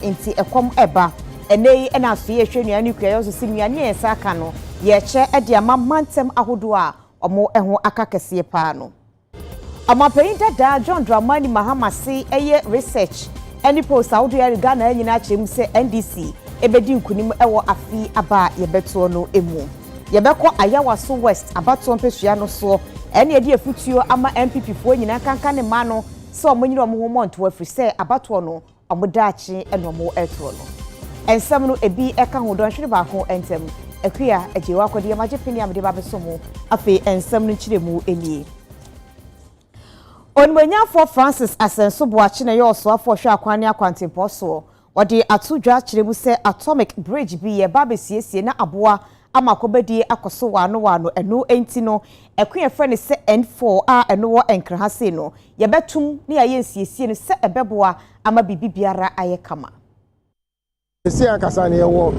Nti ɛkɔm ɛba. Ɛnɛ yi na afei yɛhwɛ nnuane no kuayɔ so sɛ nnuane a yɛsan aka no yɛkyɛ de ama mantam ahodoɔ a wɔn ho aka kɛseɛ paa no. Ɔmanpanin dada John Dramani Mahama se ɛyɛ research ne polls ahodoɔ a Ghana nyinaa akyerɛ mu sɛ NDC bɛdi nkunim wɔ afe aba a yɛbɛtoɔ no mu. Yɛbɛkɔ Ayawaso West abatoɔ mpesua no soɔ na yɛde afutuo ama NPP foɔ nyinaa nkanka ne mmaa no sɛ wɔnyere wɔn ho mmɔ ntoɔ ɛfiri sɛ abatoɔ no Wɔn daakye na wɔretorɔ no. Nsɛm no, ebi ka ho dɔnhwere baako ntam. Akua, gyae w'akɔdeɛ ma gye pene a mede ba bɛsom wo. Afei nsɛm no nkyerɛmu nie. Onimuonyamfoɔ Francis Asɛnso Boakye na ɛyɛ ɔsoafoɔ ɔhwɛ akwan ne akwantempɔn soɔ. Ɔde ato dwa kyerɛ mu sɛ Atomic Bridge bi reba abɛsiesie na aboa ama akɔbadie akɔ so waano waano. Ɛno nti no, Akua frɛ no sɛ N4 a ɛno wɔ Nkraha sei no, yɛbɛtom na yɛayɛ nsiesie no sɛ ɛbɛboa ama biribiara ayɛ kama. Seesei ankasa no yɛwɔ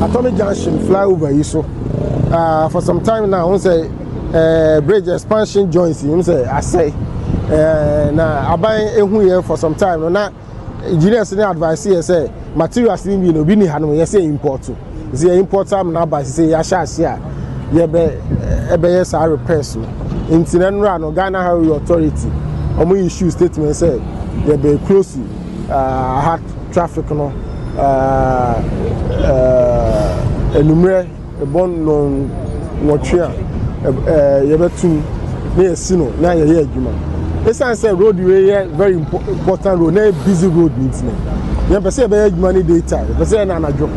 Atomic Junction flyover yi so. Uh, for some time now, wọn sɛ uh, bridge expansion joints yi wọn sɛ asɛe. Uh, na aban ehu yɛ for some time no na. engineers ne advice yɛ sɛ materials ne bi no obi ni ha no yɛ sɛ import nti yɛ import am na aba sɛ yɛ ahyɛ ase a yɛ bɛ ɛbɛyɛ saa repairs no nti na nnura no Ghana Highway Authority wɔn yi issue statement sɛ yɛ bɛ close uh, ha traffic no uh, uh, enumerɛ Bɔ nnɔn nwɔtwe a yɛbɛtum na yɛasi no na yɛyɛ adwuma. Esiane sɛ road wei yɛ very important road na yɛ busy road nti no, yɛmpɛ sɛ yɛbɛyɛ adwuma no day time, yɛpɛ sɛ yɛ no anadwo.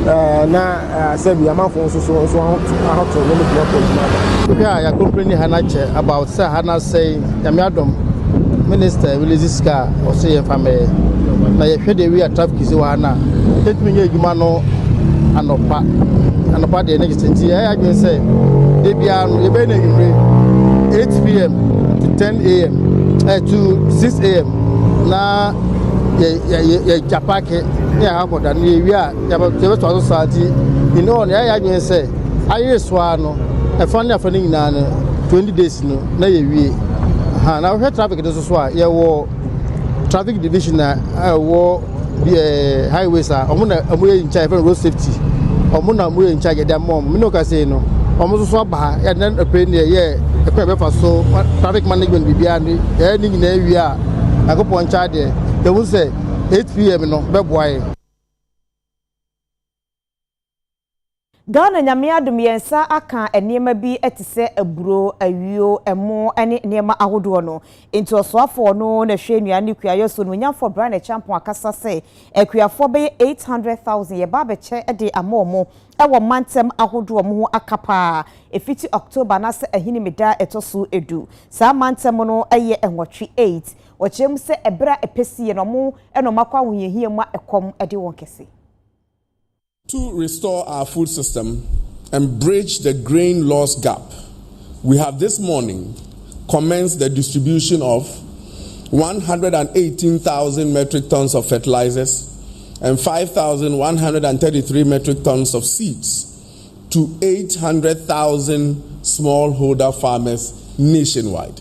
Na sɛbi amanfoɔ nso so nso ahoto ne ne block adwuma no. Ebi a yɛakompleni ha no akyɛ about sɛ ha no asɛe Nyame adom minister wele dzi sika a ɔsɛ yɛmfa mbɛyɛ na yɛhwɛ deɛ wia traffic si wɔ ha no a yɛtumi nyɛ adwuma no anɔpa anɔpa deɛ ne gyesɛ nti yɛyɛ adwene sɛ da biara no yɛbɛyɛ no anwummere 8 pm to 10 am eh, to 6 am na yɛgya paake ne yɛakɔda no yɛwie a Yɛbɛtoa so saa nti, in all no, yɛayɛ yɛn adwene sɛ ayere so ara no, ɛfa ne afa no nyinaa no, 20 days no na yɛwie. Ha, na wohwɛ traffic no nso so a, yɛwɔ traffic division a ɛwɔ eh, highways a wɔn na wɔn yɛ in charge, yɛfrɛ no road safety. Wɔn na wɔn yɛ in charge, yɛde ama wɔn. Mene wo kasa yi no, wɔn nso so aba ha, yɛde na ɛpɛ ne yɛyɛ ɛkwan a yɛbɛfa so, traffic management biribiara no, yɛyɛ ne nyinaa wie a, Nyankopɔn nkyɛn adeɛ, yɛhu sɛ 8 pm no bɛboa yɛn. Ghana Nyame adom yɛn nsa aka nneɛma bi te sɛ aburo, ayuo, ɛmo ne nneɛma ahodoɔ no. Enti ɔsoafoɔ no na ɛhwɛ nnuane ne kuayɔ so no, Onyanfoɔ Brian Acheampong akasa sɛ akuafoɔ bɛyɛ 800,000 yɛba abɛkyɛ de ama wɔn wɔ mantam ahodoɔ wɔn ho aka paa ɛfiti October anaasɛ Ahinime da a ɛtɔ so du. Saa mantam no yɛ nwɔtwe, eight. Wɔkyerɛ mu sɛ ɛberɛ a ɛpɛ siiɛ no wɔn nnoɔma kɔ ahohiahia mu a ɛkɔm de wɔn kɛse. To restore our food system and bridge the grain loss gap, we have this morning commenced the distribution of one hundred and eighteen thousand metric tons of fertilizers and five thousand one hundred and thirty three metric tons of seeds to eight hundred thousand smallholder farmers nationwide.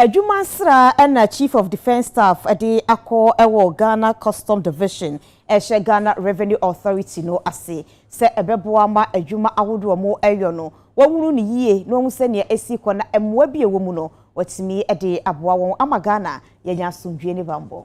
Adwuma sra na Chief of Defence Staff de akɔ wɔ Ghana Custom Division a ɛhyɛ Ghana Revenue Authority no ase sɛ ɛbɛboa ma adwuma ahodoɔ a wɔyɔ no wɔnhunu no yie na wɔahu sɛdeɛ ɛsi kɔ na mmoa bi a ɛwɔ mu no wɔatumi de aboa wɔn ama Ghana yɛanya asomdwoeɛ ne bammɔ.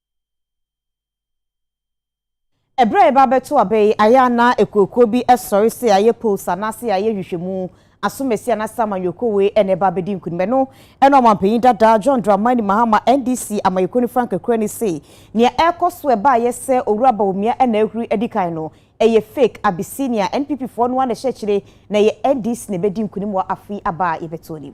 Ɛberɛ a yɛba abɛto aba yi, ayɛ a na akuokuo bi sɔre sɛ ayɛ polls anaasɛ ayɛ nhwehwɛmu, asomasi anaasɛ amanyɔkuo wei na ɛba abɛdi nkunim. Ɛno na ɔmanpanin dada John Dramani Mahama, NDC amanyɔkuo no frankakurani se nea ɛrekɔ so a ɛbaeɛ sɛ Owura Bawumia na ahuri adi kan no, ɛyɛ fake, Abyssinia. NPP foɔ no ara na ɛhyɛ akyire na ɛyɛ NDC na ɛbɛdi nkunim wɔ afe yi aba a yɛbɛto anim.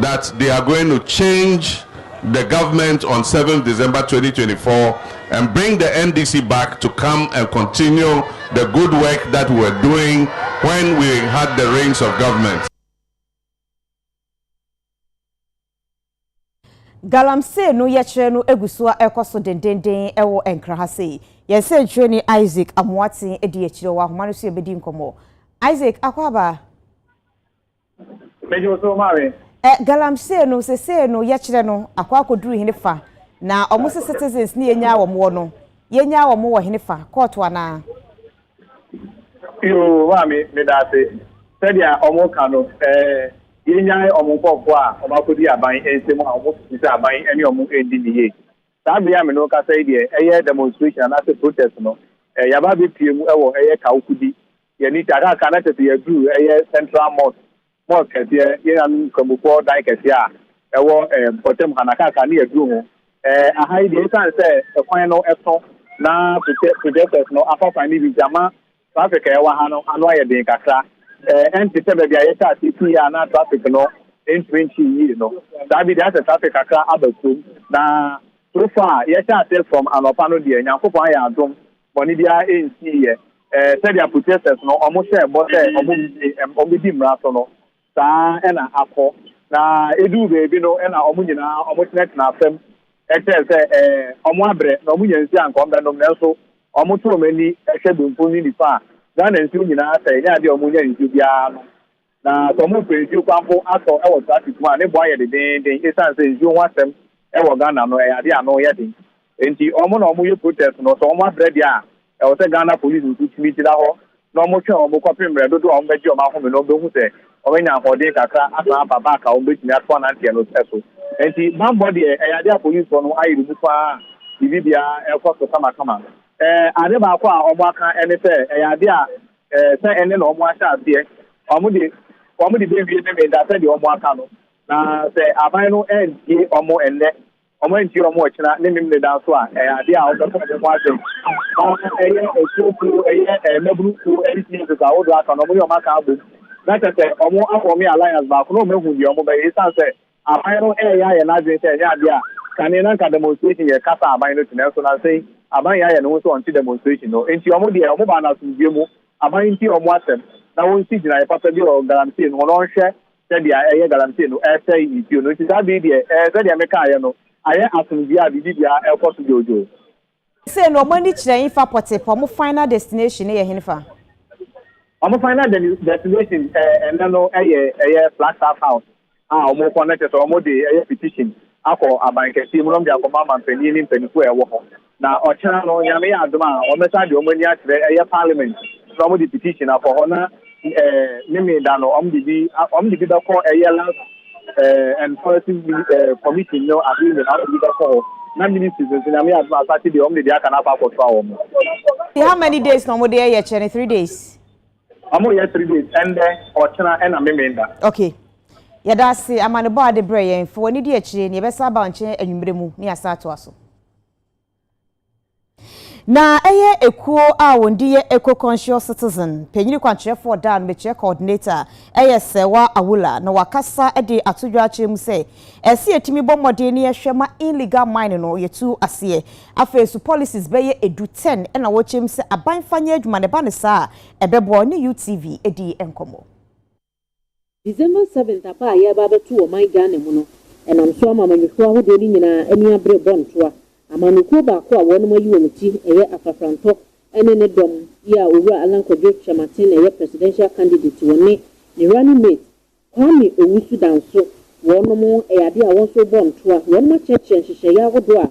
that they are going to change the government on seventh December twenty twenty four and bring the NDC back to come and continue the good work that we were doing when we had the reins of government. galamsey no yɛkyerɛ no egu so a ɛkɔ so dendenden ɛwɔ nkra ha sei yɛn sɛnkyerɛni isaac amoaten edi akyire wɔ ahoma no so yɛbɛdi nkɔmmɔ isaac akwaaba Mede wo so ma we. Ɛ, Galamsey no, sesei no yɛkyerɛ no akɔ akɔduru henefa? Na ɔmo se citizens ne yɛnyaa wɔn wɔ no, yɛnyaa wɔn wɔ henefa? Kɔɔto anaa? Yoo, maame, medaase. Sɛdeɛ ɔmo ka no, ɛ, yɛnyae ɔmo nkorɔfoɔ a ɔmo akɔdi aban nsam a ɔmo susu sɛ aban ne ɔmo nndi no yie. Saa bere a me ne wo kasa yi deɛ, ɛyɛ demonstration anaase protest no, ɛ, yɛaba abɛpue mu wɔ ɛyɛ Kawo Kudi Yɛn ani taa kaakaakaa na kyerɛ sɛ yɛduruu ɛyɛ Central Mosque, Mosque kɛseɛ, yɛn nuanom Nkramofoɔ dan kɛseɛ a ɛwɔ ɛɛ mpɔtam ha, na kaakaakaa na yɛduruu ho. Ɛɛ aha yi deɛ ɛsiane sɛ ɛkwan no ɛso na project, projectors no afa kwan no bi nti ama traffic a ɛwɔ ha no ano ayɛ den kakra. Ɛɛ ɛnte sɛ baabi a yɛhyɛ aseɛ pii a na traffic no ntumi nkyee yie no. Saa bi deɛ ayɛ sɛ traffic kakra aba kurom. Na so far yɛhyɛ aseɛ from anɔpa no deɛ Nyankopɔn ayɛ adom Bɔne biara nsiiɛ. Sɛdeɛ Protesters no wɔhyɛɛ bɔ sɛ wɔbɛdi mmara so no, saa ara na akɔ. Na ɛduu baabi no na wɔn nyinaa wɔtenatenaa fam kyerɛɛ sɛ wɔabrɛ, na wɔnya nsuo a anka wɔbɛnom. Nanso wɔtoo wɔn ani hwɛ benkum ne nifa a, Ghana nsuo nyinaa asɛe, ɛnyɛ adeɛ a wɔnya nsuo biara nom. Na sɛ wɔrepɛ nsuo kwanpo atɔ wɔ traffic mu a, ne bo ayɛ dedeenden ɛsiane sɛ nsuo ho asɛm wɔ Ghana no, ɛyɛ adeɛ a ano yɛ den. Enti wɔn na wɔyɛ protest no, sɛ wɔabrɛ deɛ a, ɛwɔ sɛ Ghana Police nso tumi gyina hɔ na wɔtwɛn wɔn kɔpem mmerɛ dodoɔ a wɔbɛgye wɔn ahome na wɔbɛhu sɛ wɔanya ahoɔden kakra asan aba back a wɔbɛtumi ato ananteɛ no so. Enti bammɔ deɛ, ɛyɛ adeɛ a Policefoɔ no ayere mu pa ara a biribibiara rekɔ so kamakama. Ɛɛ, ade baako a wɔaka ne sɛ, ɛyɛ adeɛ a Ɛɛ, sɛ ɛnnɛ na wɔahyɛ aseɛ, wɔde wɔde bɛwie Memeneda sɛdeɛ wɔaka no. Na sɛ aban no antie wɔn ɛnnɛ, wɔantie wɔn ɔkyena ne Memeneda nso a, ɛyɛ adeɛ a wɔbɛka wɔn ho asɛm. Na ɛyɛ asuo kuo, ɛyɛ ɛɛ mmabunu kuo ne teenagers ahodoɔ aka no, wɔne wɔn aka abom. Na kyerɛ sɛ wɔafoɔme alliance baako na wɔahu deɛ wɔbɛyɛ. Ɛsiane sɛ Aban no reyɛ ayɛ n'adwene sɛ ɛnyɛ adeɛ a kane na nka demonstration yɛ kasa a aban no te nanso nansa yi aban yɛ ayɛ ne ho sɛ ɔnte demonstration no enti wɔn deɛ wɔn baa no asomdwoeɛ mu aban ntie wɔn asɛm na wɔn si gyinaeɛ papa bi wɔ galamsey no ho na wɔn hwɛ sɛdeɛ ɛyɛ galamsey no ɛresɛe nsuo no nti saa bere yi deɛ ɛɛ sɛdeɛ mekaaeɛ no ayɛ asomdwoeɛ a biribi biara ɛrekɔ so dwoodwoo Sei no ɔmo ani kyerɛ hefa pɔtee paa ɔmo final destination no yɛ henfa? Ɔmo final destination ɛnɛ no yɛ ɛyɛ Flagstaff House a ɔmo kɔ no kyerɛ sɛ ɔmo de ɛyɛ petition akɔ aban kɛseɛ mu na ɔmo de akɔma amanpanin ne mpaninfoɔ a ɛwɔ hɔ na ɔkyena no Nyame yɛ adom a ɔmo bɛsan de ɔmo ani akyerɛ ɛyɛ parliament na ɔmo de petition akɔ hɔ na eh, meme da no ɔm de bi ɔm de bi bɛkɔ ɛyɛ last eh, and policy eh, committee no ade nyinaa ɔm de bi bɛkɔ hɔ na ministries nso nyame adom a saturday ɔm de deɛ aka no akɔ akɔtoa wɔn Ti how many days na ɔmo de ɛyɛ kyerɛ ne three days ɔmo yɛ three days ɛndɛ ɔkyena ɛna meme da okay yɛda ase amanebɔ a de brɛ yɛn fa w'ani di akyire ne yɛbɛsa aba nkyɛn anwummerɛ mu ne yɛasa atoa so Na ɛyɛ ekuo a wɔn di yɛ Eco-Conscious Citizen. Panyini kwankyerɛfoɔ daa no mekyerɛ coordinator ɛyɛ Sɛwa Awula na wakasa de ato dwa akyerɛ mu sɛ ɛsɛ yɛtumi bɔ mmɔden ne yɛhwɛ ma illegal mine no yɛtu aseɛ. Afei nso policies bɛyɛ edu 10 na wɔkyɛm sɛ aban fa nyɛ adwuma na ɛba no saa a ɛbɛboa. Ɔne UTV dii nkɔmmɔ. December seventh aba a yɛreba abɛto wɔ ɔman Ghana mu no, ɛnam so ama amanyɔkuo ahodoɔ no nyinaa ani abere bɔ ntoa. Amanyɔkuo baako a wɔnom ayi wɔn ti ɛyɛ Afrafrantɔ ɛne ne dɔm yi a Owura Allan Kwadwo Kyerematen ɛyɛ Presidential Candidate wɔ ne ne Running Mate Kwame Owusu-Danso wɔnom ɛyɛ adeɛ a wɔn nso rebɔ ntoa. Wɔnom akyerɛkyerɛ nhyehyɛeɛ ahodoɔ a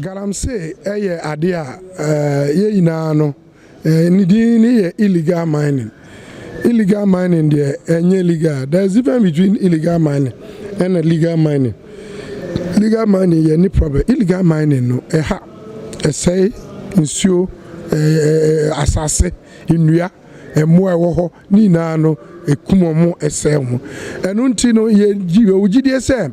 Galamsey yɛ adeɛ a yɛn nyinaa no ne din ne yɛ illegal mining. Illegal mining deɛ ɛnyɛ legal. There is difference between illegal mining ɛna legal mining. Legal mining yɛ ne problem. Illegal mining no ɛha, ɛsɛe nsuo, asase, nnua, mmoa ɛwɔ hɔ ne nyinaa no ɛkum wɔn, ɛsɛe wɔn. Ɛno nti no yɛwɔ gyidie sɛ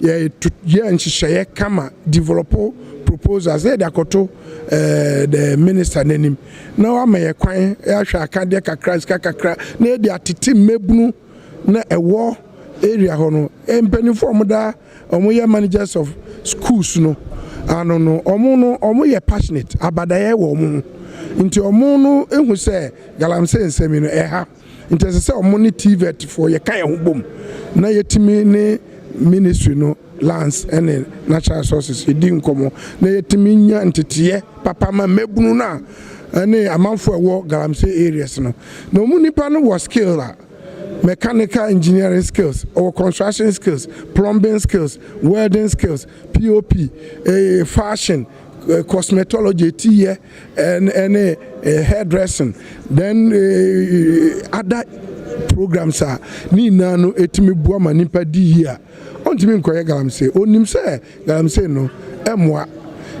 Yɛ to yɛ nhyehyɛeɛ kama develɔpo proposals na yɛde akɔto eh, the minister n'anim na wama yɛ kwan ahwɛ akadeɛ kakra sika kakra na yɛde atete mmabunu na ɛwɔ area hɔ no eh, mpanimfoɔ a wɔda wɔn yɛ managers of schools no ano no wɔn no wɔn yɛ passionate abadaeɛ wɔ wɔn ho nti wɔn no ehu sɛ galamsey nsɛm yi no ɛha. Nti ɛsɛ sɛ ɔmo ne TVET foɔ yɛ ka yɛn ho bom na yɛtumi ne ministry no lands ɛne natural resources yɛdi nkɔmɔ na yɛtumi nya nteteɛ papa ma mmɛbunu no a ɛne amanfoɔ a ɛwɔ galamsey areas no na ɔmo nipa no wɔ skill a mechanical engineering skills ɔwɔ construction skills plumbing skills welding skills pop eh, fashion eh, cosmetology etiyɛ ɛne hair dressing then ada programs a ne nyinaa no ɛtumi boa ma nipa di yie a ɔntumi nkɔyɛ galamsey ɔnim sɛ galamsey no ɛmmoa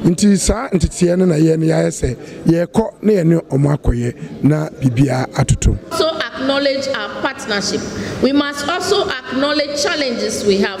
nti saa nteteɛ no na yɛ no yɛayɛ sɛ yɛrekɔ na yɛne ɔmo akɔyɛ na biribiara atoto. acknowledge our partnership, we must also acknowledge challenges we have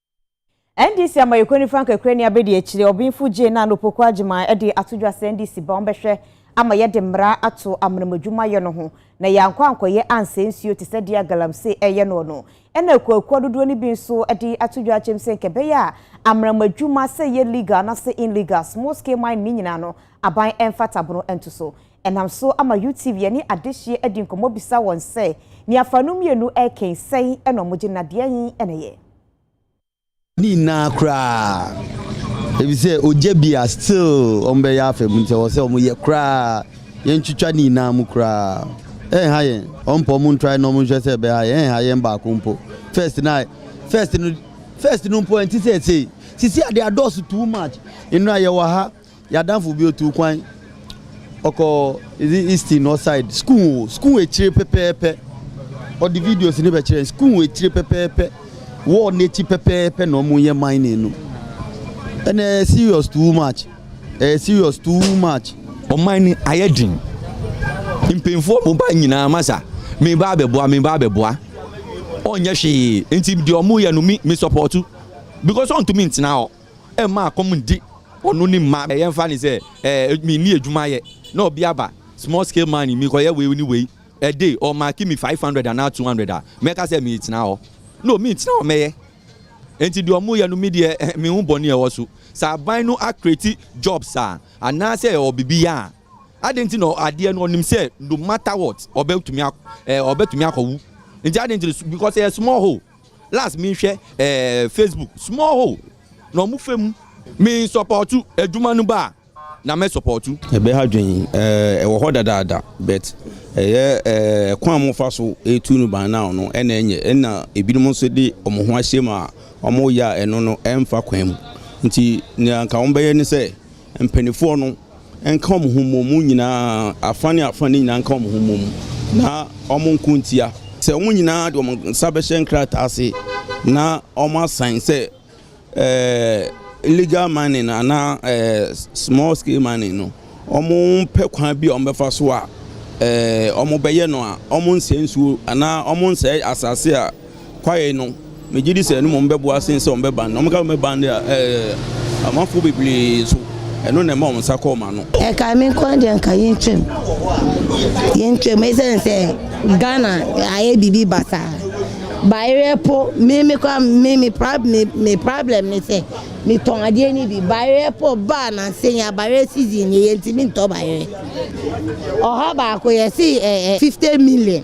NDC amayɛkuo nifa nkakrani abɛdi akyire ɔbenfo Jane Nan Opoku Agyemang de ato dwa sɛ NDC ba ɔmbɛhwɛ ama yɛde mmara ato amanemu adwumayɛ no ho na yɛankɔ ankɔyɛ ansɛe nsuo te sɛ deɛ Galamsey ɛreyɛ noɔ no ɛna akuakuo dodoɔ no bi nso de ato dwa akyɛm sɛ nka ɛbɛyɛ a amanemu adwuma sɛ ɛyɛ legal anasɛ inlegal small scale mining ne nyinaa no aban ɛmfa tabono nto so. Ɛnam so ama UTV ɛne adehyeɛ adi nkɔmmɔ bisa wɔn sɛ nea fa no mmienu ɛrekɛn sɛn ɛna ɔmo gye na deɛn ɛna ɛyɛ. Ne nyinaa koraa efisɛ ogya bi a still ɔmo bɛyɛ afɛ mu sɛ ɔsɛ ɔmo yɛ koraa yɛn twitwa ne nyinaa mu koraa ɛnha yɛn ɔmo pɛ ɔmo ntrae na ɔmo nhwɛ sɛ ɛbɛha yɛn ɛnha yɛn baako mpo first na first no first no mpo ɛnte sɛ ɛsei sisi ade adɔɔso too much nnura yɛwɔ ha. Y'adamfo bi otuu kwan ɔkɔ is it Easton or side school o school ekyire pɛpɛɛpɛ ɔde videos ne bɛkyerɛ school ekyire pɛpɛɛpɛ wall n'ekyi pɛpɛɛpɛ na ɔmo yɛ mining no ɛna ɛyɛ serious too much ɛyɛ serious too much. Ɔman no ayɛ den mpanyinfoɔ mo ba nyinaa masa me ba abɛboa me ba abɛboa ɔnyɛ hwee nti deɛ ɔmo yɛ no mi me sɔpɔtu because ɔntumi ntena hɔ. Ɛmma akɔm ndi ɔno ne mma ɛyɛ mfa ne sɛ ɛɛ me nni adwuma yɛ na ɔbi aba small scale mining me kɔyɛ wei ne wei ɛde ɔ marki me 500 anaa 200 a mɛka sɛ me tena hɔ no me ntena hɔ mɛyɛ nti deɛ ɔmo yɛ no me deɛ me ho bɔne ɛwɔ so sɛ aban no a create jobs a anaa sɛ ɛwɔ bibi yɛ a adɛn nti na adeɛ no ɔnim sɛ no matter what ɔbɛtumi ɛɛ ɔbɛtumi akɔwu nti adɛn nti because ɛyɛ small hole. Last me hwɛ ɛɛ Facebook small hole na ɔmo fɛ mu. Me nsɔpɔtu adwuma no ba a na mɛ sɔpɔtu. Ɛbɛ ha dwen ɛɛ ɛwɔ hɔ dadaada but ɛyɛ ɛɛ ɛkwan a ɔmo fa so etu no ban now no ɛna ɛnyɛ ɛna ebinom nso de ɔmo ho ahyɛ mu a ɔmo yɛ a ɛno no ɛnfa kwan mu nti nea nka ɔmo bɛyɛ ne sɛ mpaninfoɔ no nka wɔn ho mmɔ mu nyinaa, afa ne afa no nyinaa nka wɔn ho mmɔ mu, na wɔn nko ntia. Sɛ wɔn nyinaa de wɔn nsa bɛhyɛ nkrataa ase na wɔn asan sɛ ɛɛ legal mining anaa ɛɛ small scale mining no, wɔn pɛ kwan bi a wɔn bɛfa so a ɛɛ wɔn bɛyɛ no a, wɔn nsɛ nsuo anaa wɔn nsɛ asase a Kwae no, megye di sɛ ɛno mmom bɛboa sen sɛ wɔbɛban no. Wɔka sɛ wɔbɛban de a, ɛɛ, amamfo bebree nso, ɛno na ɛma wɔn nsa kɔ wɔn ano. Ɛnka me nko ara deɛ nka yɛntwam. Yɛntwam ɛsiane sɛ Ghana ayɛ biribi basaa. Baereɛ po, me me koraa me me prob me me problem ne sɛ metɔn adeɛ no bi. Baereɛ po baa nansa yi a baereɛ season nie yɛntumi ntɔ baereɛ. Ɔha baako yɛse ɛɛ 50 million.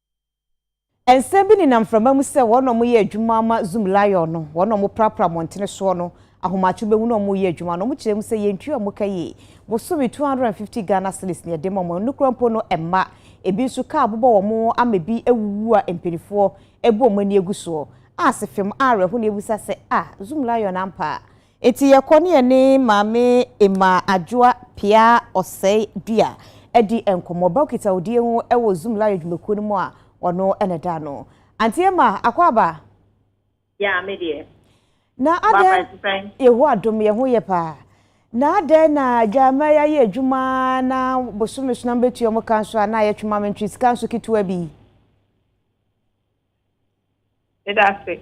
Nsɛm bi nenam mframa mu sɛ wɔn na wɔyɛ adwuma ama Zoom Lion no, wɔn na wɔprapra mmɔntene soɔ no, ahomakye wobɛhu na wɔyɛ adwuma no, wɔkyerɛ mu sɛ yɛntua wɔn ka yie, bosome 250 Ghana cedis na yɛde ma wɔn, ɛno koraa mpo no ɛmma, ebi nso kaa bobɔ wɔn ama ebi awuwu a mpaninfoɔ ɛbɔ wɔn ani agu soɔ, a sefem a awerɛho na yɛbisa sɛ ah Zoom Lion ampa a Enti yɛkɔ ne yɛne Maame Emmaa Adwoa Peaa Ɔsɛe Dua di nkɔmmɔ. Ɔba Okitawodie ho wɔ Zoom Lion dwumakuo no mu a ɔno na ɛda ano. Auntie Emma, akwaaba? Yeah, me deɛ. Na adɛn, Yehowa adom yɛ ho yɛ paa. Na adɛn na Dwammaa yi ayɛ adwuma na bosome so na mobɛtua wɔn ka nso a na ayɛ twema mentwe sika nso ketewa bi yi? Meda ase.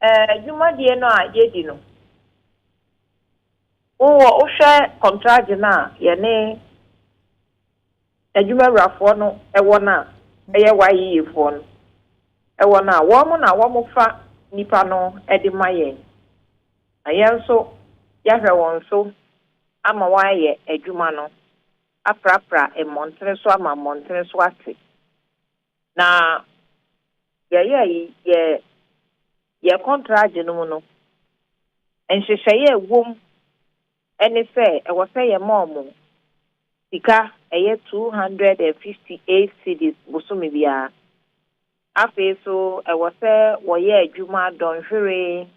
Ɛɛ, dwumadie no a yɛdi no, wowɔ wohwɛ kɔntragye no a yɛne adwumawurafoɔ no wɔ no a, ɛyɛ YEA foɔ no wɔ no a, wɔn na wɔfa nnipa no de ma yɛn, na yɛn nso yɛahwɛ wɔn so ama wɔayɛ adwuma no aprapra mmɔntene so ama mmɔntene so ate. Na yɛyɛ yi yɛ yɛ kɔntragye no mu no, nhyehyɛeɛ a ɛwɔ mu ne sɛ ɛwɔ sɛ yɛma wɔn sika ɛyɛ 258 cedis bosome biara. Afei nso ɛwɔ sɛ wɔyɛ adwuma dɔnhwere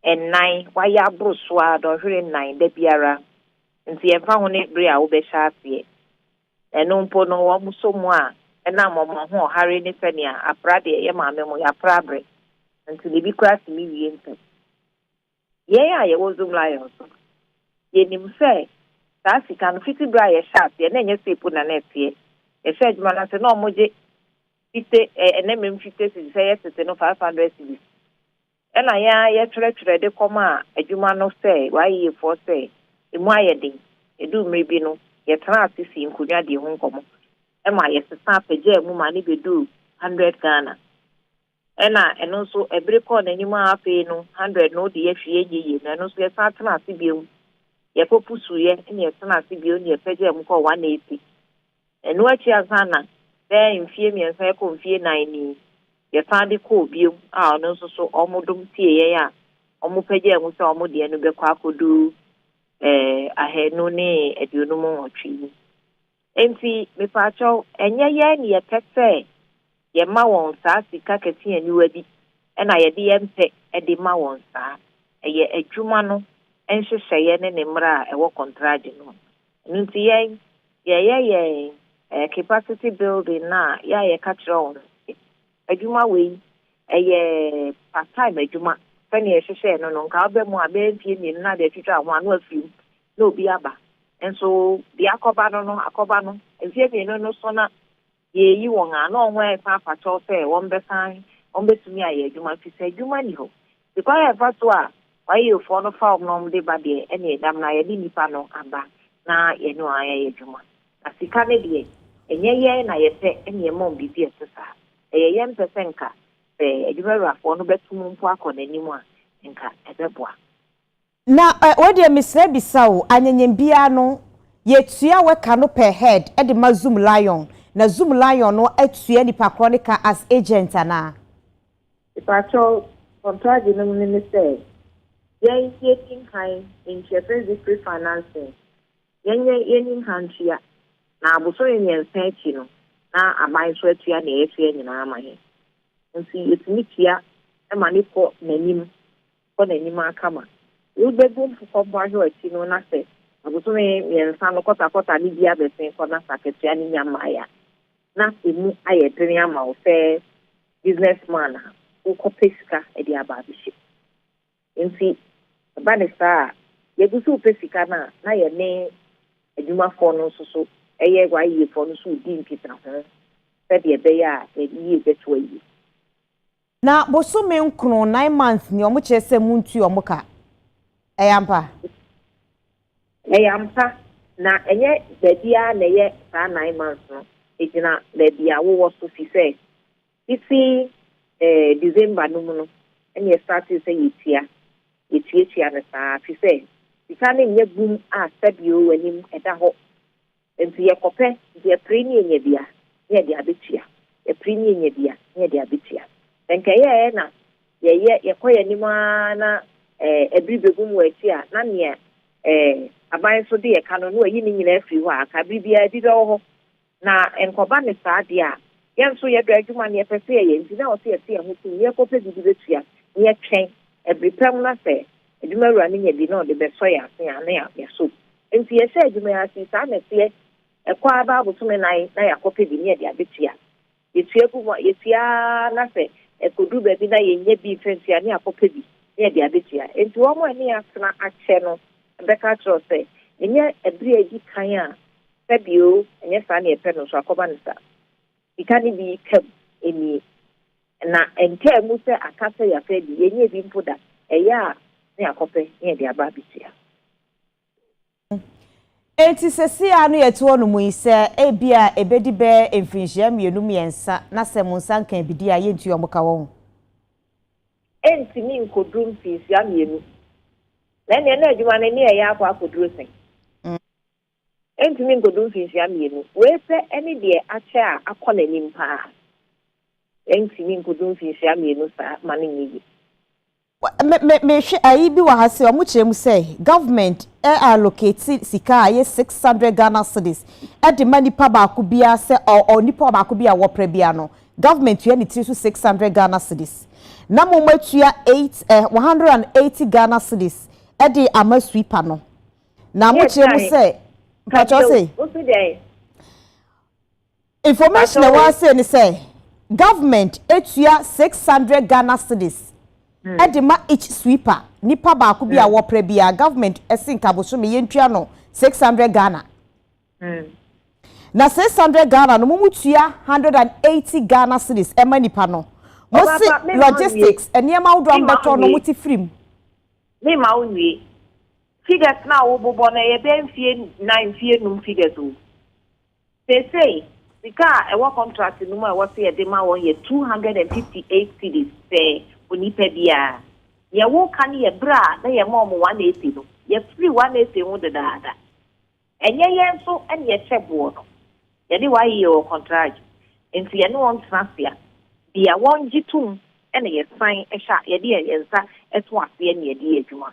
nnan, wɔayɛ aboro so ara dɔnhwere nnan da biara. Nti ɛmfa ho ne bere a wobɛhyɛ aseɛ. Ɛno mpo no, wɔn nso mu a ɛnam wɔn ahoɔhare ne sɛnea apra deɛ ɛyɛ maame mo, yɛapra abrɛ nti no, ebi koraa tumi wie ntɛm. Yɛn a yɛwɔ Zoom Lions no, yɛnim sɛ saa sika no, fiti berɛ a yɛhyɛɛ aseɛ, na ɛnyɛ sei mpo na na ɛteɛ. Yɛhyɛɛ adwuma no ase, na wɔgye fite, ɛnɛ mmem fite cedis, ɛyɛ tete no five hundred cedis. Ɛna yɛn ara yɛkyerɛkyerɛ de kɔmaa adwuma no sɛ w'ayeyefoɔ sɛ ɛmu ayɛ den. Ɛduu mmere bi no, yɛtenaa ase sii nkonnwa die ho nkɔmmɔ. Ɛma yɛsesaa pagyaa mu ma ne bɛduu hundred Ghana. Ɛna ɛno nso ɛbere kɔɔ n'anim ara afei no hundred no deɛ hwee ɛnyɛ yie na ɛno nso yɛsan tenaa ase bio. Yɛkɔ pusuuɛ ɛna yɛtenaa ase bio ɛna yɛpagyaa mu kɔɔ one eighty. Ɛno akyi ansa na bɛyɛ mfeɛ mmiɛnsa rekɔ mfeɛ nnan ni, yɛsan de kɔɔ bio a ɔno nso so wɔdom tiee yɛn a wɔpagyaa mu sɛ wɔn deɛ no bɛkɔ akɔduru ahanu ne aduonum nwɔtwe yi. Enti mepaakyɛw, ɛnyɛ yɛn na yɛpɛ sɛ Yɛma wɔn saa sika kɛse aniwa bi na yɛde yɛn pɛ de ma wɔn saa. Ɛyɛ adwuma no nhyehyɛeɛ ne ne mmara a ɛwɔ kɔntragye no mu. Ɛno nti yɛn, yɛyɛ yɛn eh, capacity building no a yɛ a yɛka kyerɛ wɔn no sɛ, adwuma wei ɛyɛ part time adwuma sɛnea yɛhyehyɛɛ no no, nka aba mu a bɛyɛ mfeɛ mmienu na ade atwitwa ho a na afiri mu na obi aba. Nso deɛ akɔba no no, akɔba no. Mfeɛ mmienu no so na Deɛ ɛyi wɔn a na wɔn ho ayɛ fa afa kyɛw sɛ wɔbɛsan wɔbɛtumi ayɛ adwuma firi sɛ adwuma nni hɔ. Nti kwan a ɛfa so a YAOfoɔ no fa wɔn na wɔde ba deɛ ɛneɛ damena yɛde nnipa no aba na yɛne wɔn ayɛ adwuma. Na sika no deɛ ɛnyɛ yɛn na yɛpɛ na yɛma wɔn biribi a ɛte saa. Ɛyɛ yɛn pɛ sɛ nka sɛ adwumawurafoɔ no bɛto mu mpo akɔ n'anim a nka ɛbɛboa. Na eh wei deɛ mesrɛ bisa o anyɛnyɛm biaa no yɛtua wɛ ka no per head de ma zoom lion na zoom lion no atua nipa korɔ no ka as agent anaa. Mepakyɛw kɔntragye no mu no ne sɛ yɛn yɛnim han ntua fɛsdi pre financing yɛnyɛ yɛnim han tua na abosome mmiɛnsa akyi no na aban nso atua nea yɛsoa nyinaa ama yɛn nti yɛtumi tua ma no kɔ nanim kɔ n'anim ara kama. Wobegu mfokɔ mmoahwew akyi no na sɛ abosome mmiɛnsa no kɔtakɔta no bi abɛsen kɔ na sɛ akatua no nnya mmae a, na emu ayɛ den ama wo sɛ business man a wokɔpɛ sika de aba abɛhyɛ mu. Enti ɛba no saa a, yɛgu so repɛ sika no a, na yɛne adwumafoɔ no nso so yɛ YEAfoɔ no nso redi nkitaho sɛdeɛ ɛbɛyɛ a yɛn yie bɛto ayie. Na bosome nkron, nine months, ni wɔn kyerɛ sɛ montua wɔn ka. Ɛyɛ ampa? Ɛyɛ ampa, na ɛnyɛ baabi ara na ɛyɛ saa nine months no. Ɛgyina baabi a wowɔ so fi sɛ fiti eh, December no mu no ɛna yɛstartee sɛ yɛtua. Yɛtuatua no saa fi sɛ sika no nyɛ bum a sɛbio w'anim ɛda hɔ Enti yɛkɔpɛ deɛ pere ne yɛnya bi a, ne yɛde abɛtua. Yɛpere ne yɛnya bi a, ne yɛde abɛtua. Sɛ nka ɛyɛɛ na yɛyɛ, yɛkɔ yɛn anim ara na ɛbere bɛbum wɔ akyi a, na nea aban nso de yɛ ka no, na wɔayi ne nyinaa afiri hɔ a, anka bere biara bi bɛwɔ hɔ. Na nkɔba ne saa deɛ a, yɛn nso yɛdɔ adwuma na yɛpɛ sɛ yɛyɛ, enti na ɛwɔ sɛ yɛte yɛn ho tom na yɛkɔpɛ bi de bɛtua, na yɛtwɛn bere pa mu na sɛ adwumawura no nya bi na ɔde bɛsɔ yɛn ase a, na yɛasɔ bi. Enti yɛhyɛɛ adwuma yi ase. Saa na ɛteɛ. Ɛkɔ ara bɛyɛ abosome nnan na yɛakɔpɛ bi ne yɛde abɛtua. Yɛtua gu mu a, yɛtua ara na sɛ ɛkɔduru baabi na yɛnnya bi mfa ntua a, ne yɛakɔpɛ bi ne yɛde abɛtua. Enti wɔn a ɛne yɛn atena akyɛ no bɛka akyerɛ wo sɛ, Ɛnyɛ ɛberɛ a ɛdi kan a fa bi oo, ɛnyɛ saa na yɛpɛ no nso a, kɔma no saa. Sika no bi ka mu, ɛnnie. Na ɛnkaa mu sɛ aka sɛ yɛafa bi. Yɛnnyɛɛ bi mpo da. Ɛyɛ a ne yɛakɔpɛ ne yɛde aba abɛtua. Enti seesei ara no yɛte hɔnom yi, sɛ ebia ebedi bɛyɛ mfirihyia mmienu mmiɛnsa na sɛ mo nsa nkaa bi de a, yentua mo ka wɔ ho. Entumi nkoduru mfirihyia mmienu. Na ɛnneɛ na adwuma no ani reyɛ akɔ akoduru sɛn? Entumi nkoduru mfirihyia mmienu. Wei pɛ ne deɛ akyɛ a akɔ n'anim paa. Entumi nkoduru mfirihyia mmienu saa ma no nyɛ yie. Me me me hwɛ ayi bi wɔ ha sɛ ɔmo kyerɛ mu sɛ government ɛ allocate sika a ɛyɛ six hundred Ghana cedis ɛde ma nipa baako bia sɛ ɔ ɔ nipa baako bi a wɔpra bia no government tua ne tiri so six hundred Ghana cedis na mmom atua eight ɛ one hundred and eighty Ghana cedis ɛde ama sweeper no na mo kyerɛ mu sɛ mpakyɛw se. Information a ɛwɔ ha sei ne sɛ, government tua six hundred Ghana cedis de ma each sweeper, nipa baako bi a wɔpra biara, government se nka bosome yɛntua no six hundred Ghana. Na six hundred Ghana no mo mo tua hundred and eighty Ghana cedis ma nipa no. Mo se logistics, nneɛma ahodoɔ a mobɛtɔ no mo te free mu. Me ma wo nwie. Figures no a wobobɔ no ɛyɛ bɛyɛ mfie nan, mfie num figures o. Seesei, sika a ɛwɔ kɔntrakte no mu a ɛwɔ sɛ yɛde ma wɔn yɛ two hundred and fifty eight cedis pɛɛ onipa biara. Nea woreka no yɛ bere a na yɛma wɔn one acre no. Yɛafiri one acre ho dedaada. Ɛnyɛ yɛn nso na yɛhyɛ boɔ no. Yɛne YEA wɔ kɔntrakte, enti yɛne wɔn tena ase a, deɛ wɔgye tom na yɛsan hyɛ a, yɛde yɛn nsa to aseɛ na yɛde yɛ adwuma.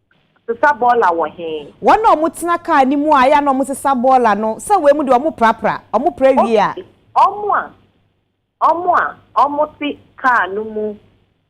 sesa bɔɔla wɔ he? Wɔn a wɔtena kaa no mu a ɛyɛ a na wɔsesa bɔɔla no, sɛ wei mu deɛ wɔprapra, wɔpra wie a. Wɔn a, wɔn a wɔte kaa no mu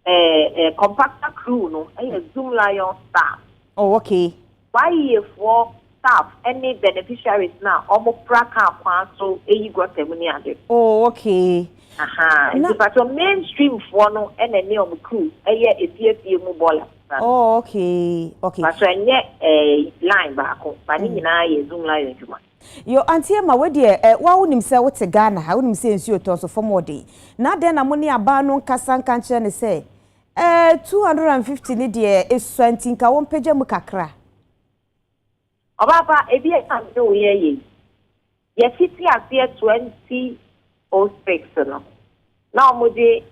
eh, eh, compactor crew no yɛ Zoomlion staff. Oh, okay. W'ayiefoɔ. staff ne beneficiaries no a ɔmo pra car kwan so yi gutter mu ne ade. Oh okay. Ahaa, nti pakyɛw main stream foɔ no na ɛne ɔmo crew yɛ efie efie mu boiler saa no. Oh okay, okay. Pakyɛw ɛnyɛ ɛɛ line baako, but ne nyinaa yɛ zoom line adwuma. Yo Auntie Emma, wei deɛ ɛ, wo ara wo nim sɛ wo te Ghana ha, wo nim sɛ nsuo tɔ, nso fam wɔ den. Na adɛn na mo ne abaa no nkasa nka nkyerɛ no sɛ, ɛɛ, two hundred and fifty no deɛ, esua nti nka wɔmpagya mu kakra? Ɔbaapa, ebia na me ne wo yɛ yɛ yi. Yɛfiti aseɛ 2006 no, na wɔgye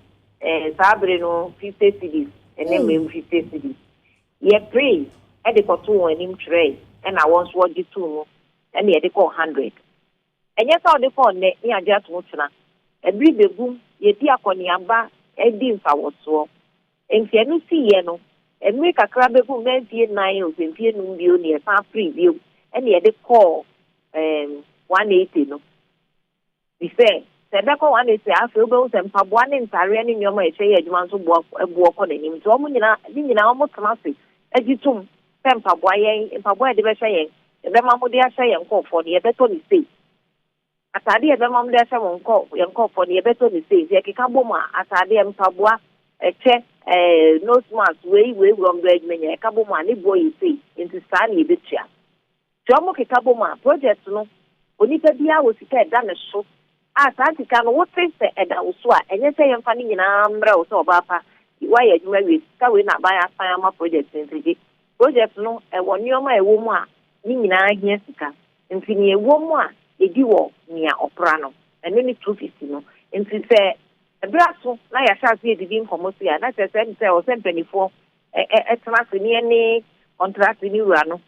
eh, saa bere no 50 cedis, ɛnɛ mmem 50 cedis. Yɛperee de kɔto wɔn anim twerɛe, ɛna wɔn nso wɔgye too mu, ɛna yɛde kɔɔ 100. Ɛnyɛ sɛ ɔde kɔ nnɛ ne agye ato ho tena. Bere bebum, yɛadi akɔneaba adi mfawɔsoɔ. Enti ɛno siiɛ no, mmere kakra bebum na mfie nnan ɔpempie num bio ne yɛsan firii bio ne yɛde kɔɔ um one eighty no. Fi sɛ, sɛ ɛbɛkɔ one eighty a afei wobɛhu sɛ mpaboa ne ntareɛ ne nneɛma a yɛhyɛ yɛ adwuma nso boɔ boɔ kɔ n'anim. Nti wɔn nyinaa ne nyinaa wɔtena ase gye tom. sɛ mpaboa, yɛn mpaboa a yɛde bɛhyɛ yɛn, yɛbɛma mo de ahyɛ yɛn nkurɔfoɔ no, yɛbɛtɔ no sei. Ataadeɛ a yɛbɛma mo de ahyɛ mo nkɔ, yɛn nkurɔfoɔ no, yɛbɛtɔ no sei. Nti yɛkeka bom a, ataadeɛ, mpaboa, ɛkyɛ, ɛɛ, nose mask, wei, wei, wɔn berɛ adwuma nyinaa, yɛka bom a, ne boɔ yɛ sei. Nti saa na yɛbɛtua. Sɛ wɔkeka bom a, project no, onipa biara wɔ sika a ɛda ne so a saa sika no wote sɛ ɛda wo so a, ɛnyɛ sɛ yɛmfa ne nyinaa mmrɛ wo sɛ ɔbaa pa, woayɛ adwuma awie, sika wei na aban asan ama project no nti gye. Project no, ɛwɔ nneɛma a ɛwɔ mu a ne nyinaa hia sika. Nti nea ɛwɔ mu a yɛdi wɔ nea ɔpra no, ɛno ne two fifty no. Nti sɛ bere aso na yɛahyɛ ase adidi nkɔmmɔ sei a, na kyerɛ sɛ ɛne sɛ ɛwɔ sɛ mpanimfoɔ tena ase ne yɛne kɔntrateni wura no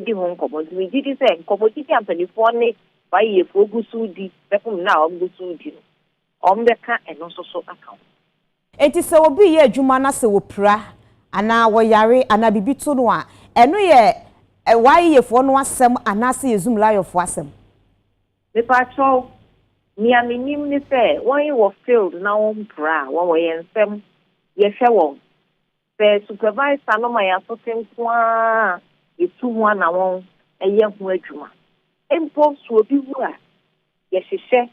di ho nkɔmmɔ. Nti megye di sɛ nkɔmmɔdidi a mpanimfoɔ ne YEAfoɔ gu so redi bɛfom nna a wɔgu so redi no, wɔbɛka ɛno nso so aka ho. Enti sɛ obi reyɛ adwuma na sɛ wɔpira anaa wɔyare anaa biribi to no a, ɛno yɛ YEAfoɔ no asɛm anaasɛ yɛ Zoomliafoɔ asɛm? Mepakyɛw, nea menim ne sɛ wɔn wɔ field na wɔmpira a, wɔwɔ yɛn nsam, yɛhwɛ wɔn. Sɛ supervisor no ma yɛn asote nko ara a, yetu ho anammɔn yɛ ho adwuma. Mpo sɛ obi wu a, yɛhyehyɛ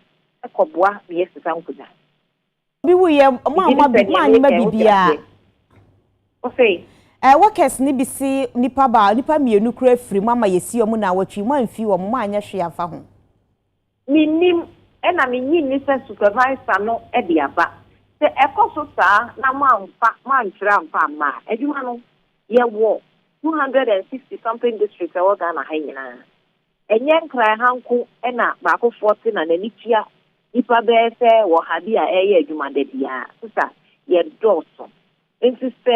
kɔboa ma yɛsesa nkonnwa. Obi wu yɛ, moammɔ bi, moannyema biribiara. Wosee? Ɛɛ, workers no bi se nnipa baa, nnipa mmienu koraa firi, moama yɛsi wɔn nnawɔtwe, moamfi wɔn, moanyɛ hwee amfa ho. Minnim, ɛna minnye nni sɛ supervisor no de aba. Sɛ ɛkɔ so saa na moamfa, moantwerɛ amfa amma a, adwuma no, yɛwɔ two hundred and sixty something districts a ɛwɔ Ghana ha yi nyinaa. Ɛnyɛ Nkran ha nko na baakofoɔ te na n'ani tua nnipa bɛyɛ sɛ ɔha bi a ɛreyɛ adwuma da biara. Sesa, yɛdɔɔso. Enti sɛ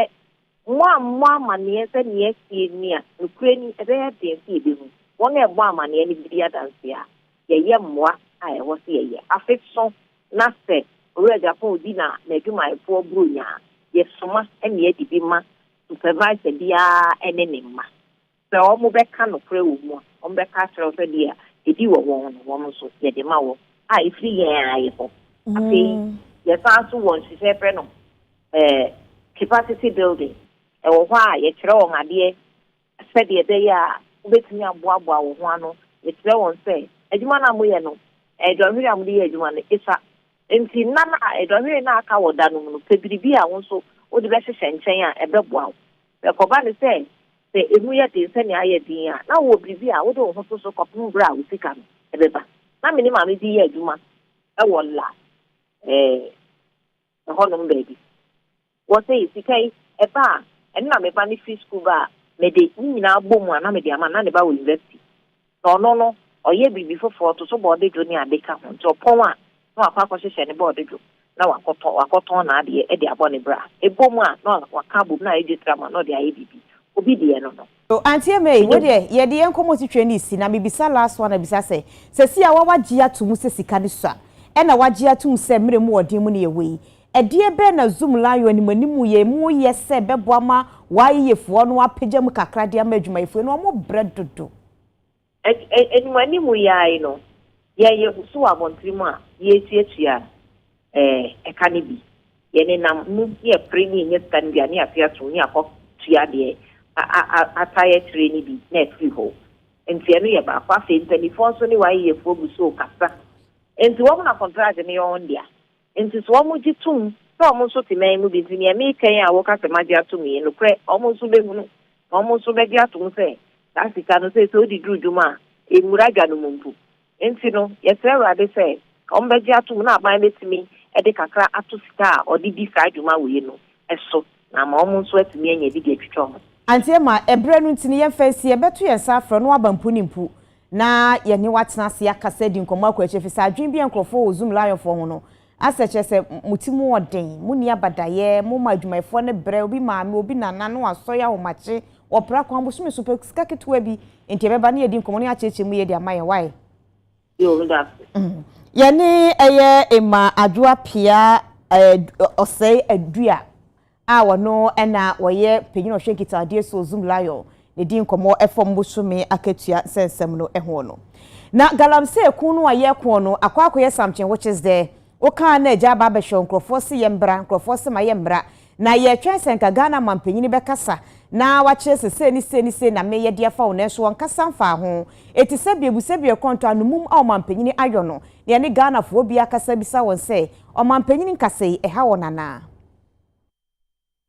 moammɔ amanneɛ sɛ nea asie ni a, nokorɛ ni, ɛbɛyɛ den sɛ yɛbɛhu. Wɔn a ɛbɔ amanneɛ no bɛdi adanseɛ a yɛyɛ mmoa a ɛwɔ sɛ yɛyɛ. Afe so na sɛ Owura Japon di na n'adwumayɛfoɔ Buronya a, yɛsoma nea adi bi ma supervisor biara ne ne mma. Sɛ wɔbɛka nokorɛ wɔ mu a, wɔbɛka akyerɛ wo sɛ deɛ ɛdi wɔ wɔn no, wɔn nso, yɛde ma wɔn, a ɛfiri Yɛn ara Yɛ hɔ. Afei Yɛsan nso wɔ nhyehyɛɛ yɛfrɛ no ɛɛ capacity building, ɛwɔ hɔ a yɛkyerɛ wɔn adeɛ sɛdeɛ ɛbɛyɛ a wobɛtumi aboaboa wo ho ano, yɛkyerɛ wɔn sɛ adwuma no a moyɛ no, ɛɛ dɔnhwere a mode yɛ adwuma no, ɛsua. Enti nna no a dɔnhwere no aka wɔ da no mu no, pɛ biribi a wo nso wode bɛhyehyɛ nkyɛn a ɛbɛboa wo. Na ɛkɔba no sɛ, sɛ emu yɛ den sɛnea ayɛ den yi a, na wowɔ biribi a wode wo ho to so kɔpem bere a wo sika no bɛba. Ná me ne Maame bi yɛ adwuma wɔ La Haye hɔnom baabi. Wɔsɛ yɛ sika yi, ɛba a, ɛno na me ba no fi sukuu ba a, mede ne nyinaa bom a na mede ama no. Ná ne ba wɔ yunivasiti. Na ɔno no, ɔyɛ biribi foforɔ, ɔto so bɔɔde dwo ne ade ka ho, nti ɔpɔn a, na wakɔ akɔhyehyɛ ne bɔɔde dwo na wakɔtɔ, wakɔtɔn n'adeɛ de abɔ ne bra. Ɛbɔ mu a, na waka abom, na ayɛ dwetram a, na ɔde ayɛ biribi. Obi deɛ no no. Oh Auntie May, wei deɛ yɛde yɛn nkɔmmɔ titire no resi, na mebisa last one abisa sɛ, sɛsi ara wagye ato mu sɛ sika no sua, ɛna wagye ato mu sɛ mmerɛ mu ɔden mu ne yɛwɔ yi, Ɛdeɛ bɛn na Zoom Lion animanimu yɛ mu yɛ sɛ ɛbɛboa ma w'ayeyefoɔ no apagya mu kakra de ama adwumayɛfoɔ yi na wɔbrɛ dodo? Animanimu yɛaye no, yɛyɛ so wɔ abɔntene mu a yɛretuatua ɛka no bi. Yɛnenam mu ne yɛpere ne yɛnya sika no bi a ne yɛafe atom ne yɛakɔ tua deɛ ata yɛtire no bi na afiri hɔ. Nti ɛno yɛ baako. Afei mpaninfoɔ nso ne w'ayeyefoɔ gu so rekasa. Nti wɔn na kɔntrate no yɛ wɔn dea. Enti so wɔgye tom sɛ wɔn nso te man mu bi nti nea mereka yi a wɔka sɛ magye atom yi, nokorɛ wɔn nso bɛhunu na wɔn nso bɛgye atom sɛ saa sika no sei sɛ wode duru dwom a, ɛmmura dwa no mu mpo. Enti no, yɛsrɛ Awurade sɛ wɔbɛgye atom na aban bɛtumi de kakra ato sika a ɔde di saa dwuma wei no so Na ama wɔn nso atumi anya bi de atwitwa wɔn ho. Ante ama ɛberɛ no nti no yɛmfa nsie, bɛto yɛn nsa afrɛ no aba mpo ne mpo na yɛne wo atena ase akasa adi nkɔmmɔ akɔ akyire ɛfiri sɛ adwene bi a nkorɔfoɔ wɔ Zoom Lionfoɔ ho no asɛ kyerɛ sɛ mo ti mu ɔden, mo nni abadaeɛ, mo ma adwumayɛfoɔ no brɛ, obi maame, obi nana no asɔre ahomakye, wɔpra kwan bosome so pɛ sika ketewa bi, enti ɛbɛba na yɛadi nkɔmmɔ na yɛakyekyɛ mu yie de ama yɛn, wai? Yɛne ɛyɛ Emma Adwoa Pia Ɔsɛe Adua a wɔno ɛna wɔyɛ panyin ɔhwɛ nkitadeɛ so Zoom Lion na di nkɔmmɔ ɛfam bosome akatua nsɛnsɛm no ɛho no. Na galamsey ko no a yɛko no akɔ akɔyɛ something which is the wokaa na agya aba abɛhwɛ nkurɔfoɔ se yɛ mbra nkurɔfoɔ se ma yɛ mmra Na yɛtwɛn sɛ nka Ghana manpanyin bɛkasa na wakyerɛ sɛ sei ne sei ne sei na meyɛ de afa wo nanso ɔnkasa mfaa ho. Eti sɛbea ebu sɛbea ɛkorɔntɔ ano mum a ɔmanpanyin ayɔ no na yɛne Ghanafoɔ bi akasa abisa wɔn sɛ ɔmanpanyin nkasa yi ɛha wɔn anaa?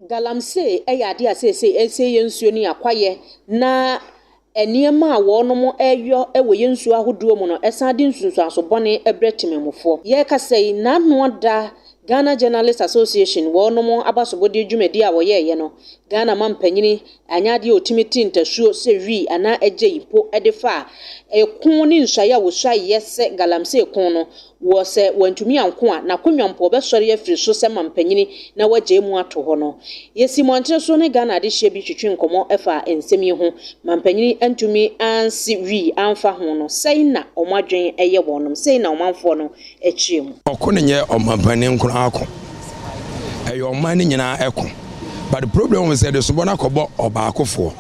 Galamsey yɛ adeɛ a seesei ɛresie yɛn nsuo ne yɛn akwaeɛ na Nneɛma a wɔnom yɔ wɔ yɛn nsuo ahodoɔ mu no san de nsunsuanso bɔne brɛ temanmufoɔ. Yɛrekasa yi, n'ano da Ghana Journalists Association wɔnom abasobɔdeɛ dwumadie a wɔyɛeɛ no, Ghana mampanyini anyɛ adeɛ a ɔtumi te ntasuo sɛ Wi anaa Agyei mpo de faa ɛko ne nsuaeɛ a wɔsuaeɛ sɛ Galamsey ko no, Wɔ sɛ wantumi anko a, n'akonnwa mpo ɔbɛsɔre afiri so sɛ mampanin na wagyae mu ato hɔ no. Yɛsi mmɔntene so ne Ghana adehyeɛ bi twetwe nkɔmmɔ fa nsɛm yi ho. Mampanin antumi ansi wii amfa ho no, sɛi na wɔn adwen yɛ wɔnom, sɛi na ɔmanfoɔ no kyerɛ mu. Ɔko no nyɛ ɔmampanin nko ara ko, ɛyɛ ɔman no nyinaa ko. But the problem was sɛ desobɔ no akɔbɔ ɔbaakofoɔ,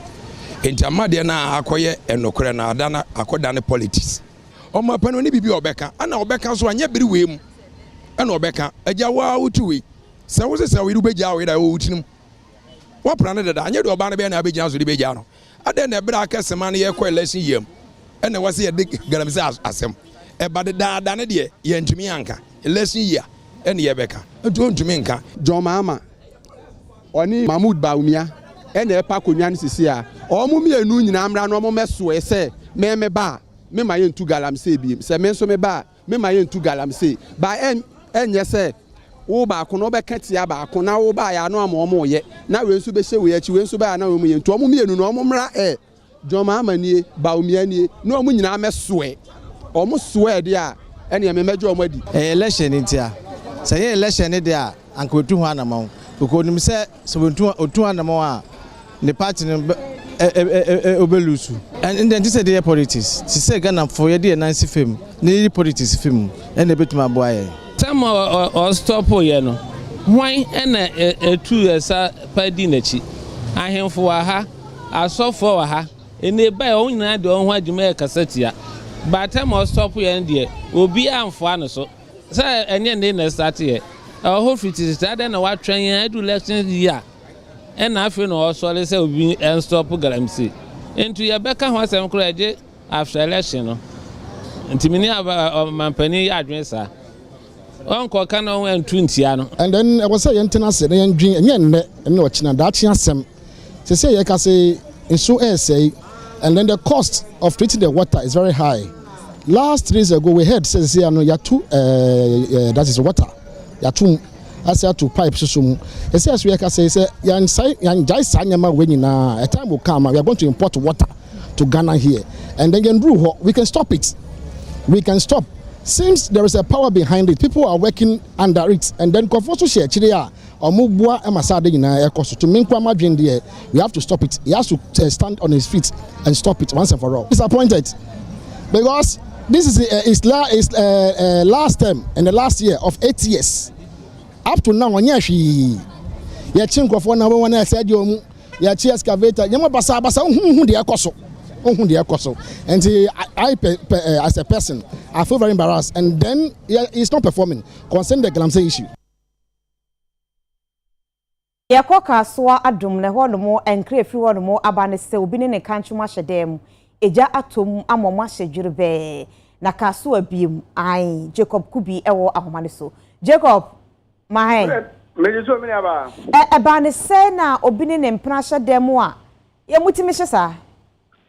nti ama adeɛ no akɔyɛ nokorɛ no ada no akɔdane politics. Ɔma pɛ no ne biribi a ɔbɛka ɛna ɔbɛka nso anyɛ bere wei mu ɛna ɔbɛka agya wo a wotu wei sɛ wo sesɛ wo yere wobɛgyaa wo yere a ɛwɔ wo tirim woapra no dada anyɛ deɛ ɔbaa no bɛyɛ na abɛgyina so de bɛgyaa no adɛn na ɛberɛ a akɛsema no yɛkɔ election yia mu ɛna ɛwɔ sɛ yɛde galamsɛ asɛm ɛba dedaada no deɛ yɛntumi anka election yia ɛne yɛbɛka nti ɔntumi nka John Mahama ɔne Mahmoud Bawumia na ɛrepa akonnwa no sisi a, wɔn mmienu nyinaa mmra na wɔmmɛsoɛ sɛ me meba a, mema yɛntu galamsey biem, sɛ me nso meba a, mema yɛntu galamsey. Ba ɛnyɛ sɛ wo baako no wobɛka tia baako na wo baeɛ ano ama wɔn reyɛ na wei nso bɛhyɛ wei akyi, wei nso baeɛ na wɔn yɛ nti wɔn mmienu no wɔn mmra ɛ. John Mahama nie, Bawumia nie, na wɔn nyinaa mɛsoɛ. Wɔn soɛɛ deɛ a, ɛneɛ me mɛgye wɔn adi. Ɛyɛ election no nti a. Sɛ ɛnyɛ election no deɛ a, anka watu ho anamɔn. Because ɔnim sɛ, sɛ wɔtu, ɔtu ho anamɔn a, ne party no bɛ, ɛ, ɛ, ɛ, ɛ, ɛ, ɔbɛ loose. Ɛn, ɛnde ɛnte sɛ yɛde yɛ politics. Te sɛ Ghanafoɔ, yɛde yɛn nan si fam na yɛyi politics fi mu, ɛna ɛbɛtumi aboa yɛn. Tam a ɔ, ɔ, ɔstɔpoo yɛ no, hwan na ɛ, ɛtuu yɛ sa pa dii n'akyi? Ahemfo wɔ ha. Asɔfoɔ wɔ ha ɛnɛ ebi ayɛ wɔn nyinaa de wɔn ho agye mu ɛrekasa tia by time a ɔstop yɛ no deɛ obiara anfoa no so sɛ ɛnyɛ ɛnɛ na ɛstart yɛ ɛwɔ hɔ firi tititi adɛn na watwɛn yɛn adu election year ɛna afei na ɔsɔre sɛ obi ɛnstop galamsey nti yɛbɛka ho asɛm koraa ɛgye after election no nti meni ɔmampanin yɛ adwene saa. Ɔnkɔ ka na ɔntu ntia no. And then ɛwɔ sɛ yɛn tena ase na yɛn dwen ɛnyɛ nnɛ ɛne ɔkyena daakye asɛm sese yɛ ka se nsu ɛresɛe and then the cost of treating the water is very high last three days ago we heard sɛ sese ano yatu ɛɛ eh, eh, that is water yatu mu ase ato pipe soso mu ɛsɛ so yɛ ka se sɛ yɛn sa yɛn gyae saa nneɛma wɔ nyinaa a time will come we are going to import water. to Ghana here and then yɛnduru hɔ we can stop it we can stop seems there is a power behind it people are working under it and then nkurɔfoɔ so hyɛ akyire a wɔn boa ma saa de nyinaa ɛkɔ so to me nko ama dwen deɛ we have to stop it he has to uh, stand on his feet and stop it once and for all disappointed because this is uh, his, la, his uh, uh, last term and the last year of eight years up to now ɔnyɛ hwee yɛkye nkurɔfoɔ na wɔn a ɛsɛ deɛ wɔn Yɛkye excavator nneɛma basabasa wohu wohu deɛ ɛkɔ so wohu deɛ ɛkɔ so nti I pe, pe, eh, as a person I feel very embarrassed and then yeah, it's not performing concerning the galamsey issue. Yɛkɔ Kasoa Adom na ɛhɔ nom nkra ɛfiri hɔ nom aba ne sɛ obi ne ne kankyem ahyɛ dan mu, egya atɔ mu ama ɔmo ahyɛ dwerebɛɛ na Kasoa biem, ae, Jacob Kubi ɛwɔ ahoma no so. Jacob! Mahen. Megye so, me nuabaa. Ɛ, ɛbaa no sɛɛ na obi ne ne mpena hyɛ dan mu a, yɛ motumi hyɛ saa?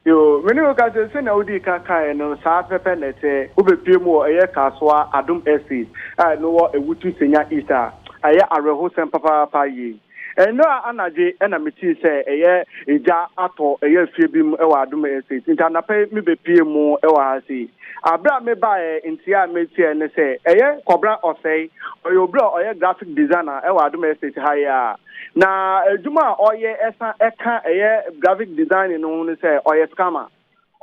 Yoo, me ne wo ka sɛ, sɛnea wodii ka kaeɛ no, saa pɛpɛ na ɛteɛ. Wobɛpue mu wɔ ɛyɛ Kasoa Adom Estate a ɛno wɔ Awutu Senya East a, ɛyɛ awerɛhosɛm papaapa yei. Ɛnnɛ anadwo yi na metee sɛ ɛyɛ egya atɔ ɛyɛ afie bi mu wɔ Adom Estate nti anapa yi mebɛpue mu wɔ ha sei. Aberɛ a mebaeɛ nteɛ a meteɛ ne sɛ ɛyɛ Kɔbena Ɔsɛe, ɔyɛ obi a ɔyɛ graphic designer wɔ Adom Estate ha yi ara. Na adwuma a ɔyɛ san ka ɛyɛ graphic designing no ho ne sɛ ɔyɛ scammer.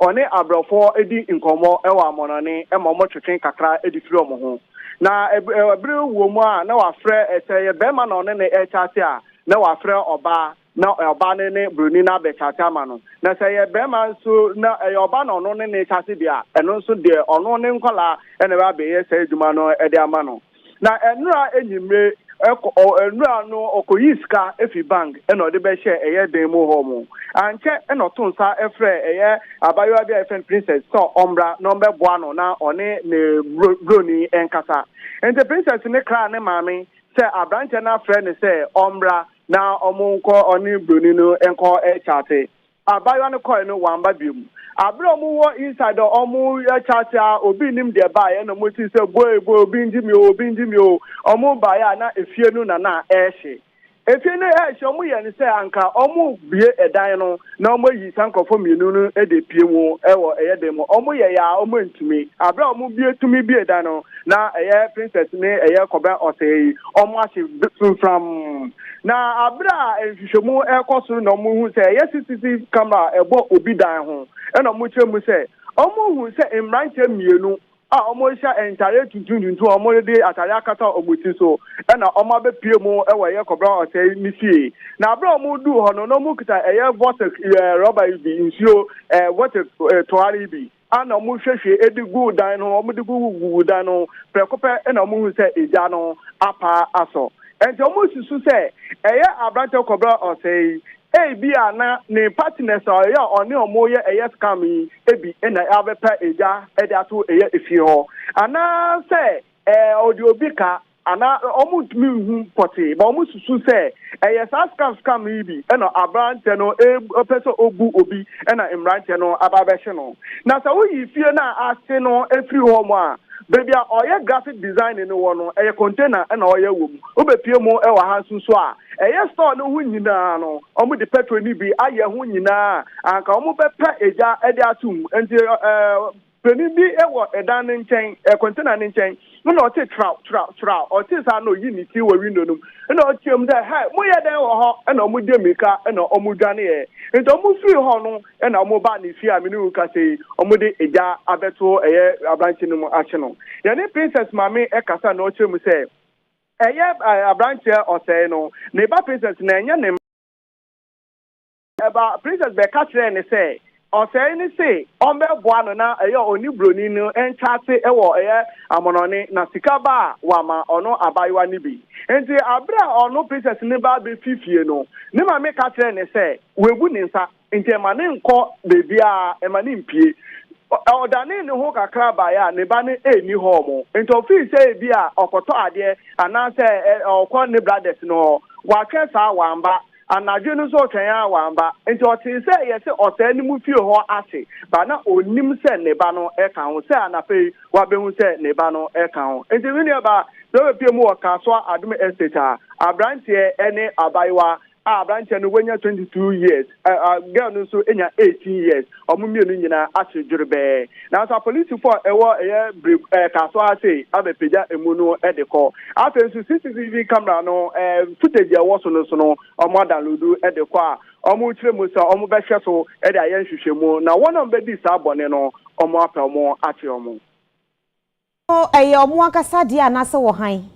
ɔne abrɔfo di nkɔmmɔ wɔ amɔnɔne ma wɔtwetwe kakra de firi wɔn ho. Na bere wom a na wafrɛ, sɛ ɛyɛ barima na ɔne no rekyate a, na wafrɛ ɔbaa na ɔbaa no ne buroni no abɛkyate ama no. Na sɛ ɛyɛ barima nso na ɛyɛ ɔbaa na ɔno ne no rekyate deɛ a, ɛno nso deɛ ɔno ne nkwadaa na ɛbɛba abɛyɛ saa adwuma no de ama no. Na ɛnora anwummere ɛkɔ ɔ ɛnora no ɔkɔyii sika firi bank na ɔde bɛhyɛɛ ɛyɛ dan mu hɔ mu. Ankyɛ na ɔtoo nsa frɛɛ ɛyɛ abaayewa bi a yɛfrɛ no Princess sɛ ɔmmra na ɔmmɛboa no na ɔne ne bro broni nkasa. Enti Princess no kraa ne maame sɛ aberanteɛ no afrɛ no sɛ ɔmmra na wɔnkɔ ɔne broni no nkɔ kyate. Abaayewa no kɔe no, wamba bio. Aber a wɔwɔ inside hɔ a wɔrekyɛ ase ara, obi nnim deɛ baeɛ na wɔsii sɛ boe boe obi ngye me o, obi ngye me o. Wɔbaeɛ a na efie no na na ɛrehye. Efie no ɛrehye wɔyɛɛ no sɛ anka wɔrebue ɛdan no na wɔayi saa nkorɔfoɔ mmienu no de apue mu wɔ ɛyɛ dɛn mu. Wɔyɛeɛ ara wɔantumi. Aber a wɔbue tumi bue dan no, na ɛyɛ Princess ne ɛyɛ Kɔbena Ɔsɛɛ yi wɔahye fimfram. Na bere a nhwehwɛmu rekɔ so na wɔrehu sɛ ɛyɛ CCTV camera a ɛbɔ obi dan ho na wɔkyerɛ mu sɛ wɔhu sɛ mmeranteɛ mmienu a wɔhyɛ ntadeɛ tuntum tuntum a wɔde atadeɛ akata wɔn ti so na wɔabɛpue mu wɔ ɛyɛ Kɔbra Ɔsɛe ne fie. Na bere a wɔduu hɔ no, na wɔkita ɛyɛ vortex rɔba yi bi, nsuo vortex toa no yi bi. a na wɔhwiehwie de guu dan no ho, wɔde guguguguu dan no ho, prɛko pɛ na wɔhuu sɛ egya no apaa asɔ. Enti wɔsusu sɛ ɛyɛ aberante kɔbere a ɔsɛe yi, ebia na ne partners a ɔyɛ a ɔne wɔn reyɛ ɛyɛ scam yi bi na abɛpa egya de ato ɛyɛ efie hɔ, anaasɛ ɔde obi ka Anaa wɔntumi nhu pɔtee, but wɔsusu sɛ ɛyɛ saa scam scam yi bi na aberanteɛ no repɛ sɛ ɔbu obi na mmeranteɛ no aba abɛhye no. Na sɛ woyi fie no a ase no firi hɔ nom a, baabi a ɔyɛ graphic designing no wɔ no, ɛyɛ container na ɔyɛ wɔ mu. Wobɛpue mu wɔ ha nso nso a, ɛyɛ store no ho nyina ara no, wɔde petrol no bi ayɛ ho nyina ara a anka wɔbɛpɛ gya de ato mu. Nti eh. Panin bi wɔ ɛdan no nkyɛn, ɛ, container no nkyɛn. Ɛna ɔtee traw, traw, traw. Ɔtee saa na ɔyii ne ti wɔ window no mu. Ɛna ɔteɛm sɛ, Hɛ, moyɛ dɛn wɔ hɔ? Ɛna wɔde mmirika na wɔdwaneeɛ. Enti wɔfirii hɔ no, ɛna wɔbaa ne fie a me ne wo rekasa yi, wɔde egya abɛto ɛyɛ aberanteɛ no mu ahye no. Yɛne Princess maame kasa na ɔkyerɛ mu sɛ, Ɛyɛ, ɛ, aberanteɛ ɔsɛe no, ne ba Princess na ɛnyɛ ne mma. Ɛba Princess bɛka kyerɛɛ no sɛ ɔsɛe no se ɔmbɛboa no na ɛyɛ a ɔne broni no nkyɛase wɔ ɛyɛ amonɔne na sika ba a wama ɔno abayewa no bi. Nti aberɛ a ɔno Princess no ba bɛfi fie no ne mame ka kyerɛɛ no sɛ wabu ne nsa nti ɛma no nkɔ baabiara ɛma no mpie. Ɔdanee ne ho kakra baeɛ a ne ba no nni hɔ mo nti ɔfii sɛ ebi a ɔkɔtɔ adeɛ anaasɛ ɔkɔ ne brothers no hɔ. Watwɛn saa wamba Anadwo no nso ɔtwɛn ara wamba. Enti ɔtee sɛ yɛse ɔsɛe ne mu fie hɔ ase ba na onnim sɛ ne ba no ka ho. Sɛ anapa yi wabehu sɛ ne ba no ka ho. Enti me nua baa sɛ ɔbepue mu wɔ Kasoa Adom Estate a abranteɛ ne abayewa a abranteɛ no wanya 22 years, girl no nso nya 18 years. wɔn mmienu nyinaa ahye dwerebɛɛ. Nanso apolisifo a ɛwɔ ɛyɛ bere ɛɛ kaa so ara sei abɛpagya emu no de kɔ. Afei nso CCTV camera no ɛɛ footage a ɛwɔ so no so no wɔadownloadu de kɔ a wɔkyerɛ mu sɛ wɔbɛhwɛ so de ayɛ nhwehwɛmu na wɔn a wɔbɛdii saa bɔne no wɔapɛ wɔn akye wɔn. So ɛyɛ wɔn ankasa dea anaasɛ wɔ hann?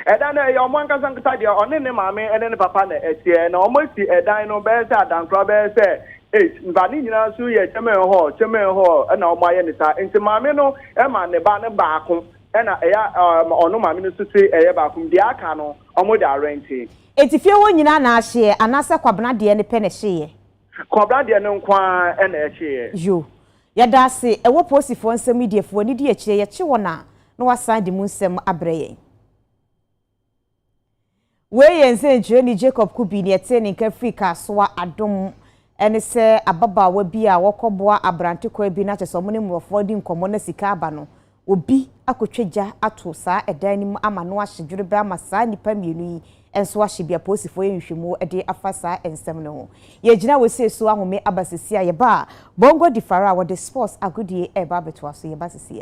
Ɛdan no, ɛyɛ wɔn ankasa ankasa dea. Ɔne ne maame ne ne papa na ɛteɛ, na wɔasi ɛdan no bɛyɛ sɛ adankora bɛyɛ sɛ eight, na ne nyinaa nso yɛ kyɛmɛn hɔɔ kyɛmɛn hɔɔ na wɔayɛ no saa. Enti maame no ma ne ba no baako, ɛnna ɛyɛ a ɔno maame no nso te ɛyɛ baako, deɛ aka no, wɔde arɛnte. Enti fie hɔ nyinaa na ahyeɛ, anaasɛ Kwabena deɛ no pɛ na ɛhyeeɛ? Kɔbra deɛ no nko ara na ɛkyeeɛ. Yo. Yɛda ase wɔ Posifoɔ nsɛm yi deɛ, fa w'ani di akyire, yɛkye wɔn a na wɔasan de mu nsɛm abrɛ yɛn. Wei yɛ nsɛnkyerɛni Jacob Kubi, nea ɛtee ne nka firi Kasoa Adom. Ɛne sɛ ababaawa bi a wɔkɔboa abrante kwan bi no akyɛ sɛ wɔne mmorɔfoɔ di nkɔmmɔ na sika aba no, obi akɔtwa gya ato saa ɛdan no mu ama no ahye dwerebɛ ama saa nnipa mmienu yi nso ahye bi apolisifoɔ yɛ nhwehwɛmu de afa saa nsɛm no ho. Yɛgyina wɔsie so ahome aba sesie a yɛba a Bongo Difara a wɔde sports agodie reba abɛtoa so yɛba sesie a.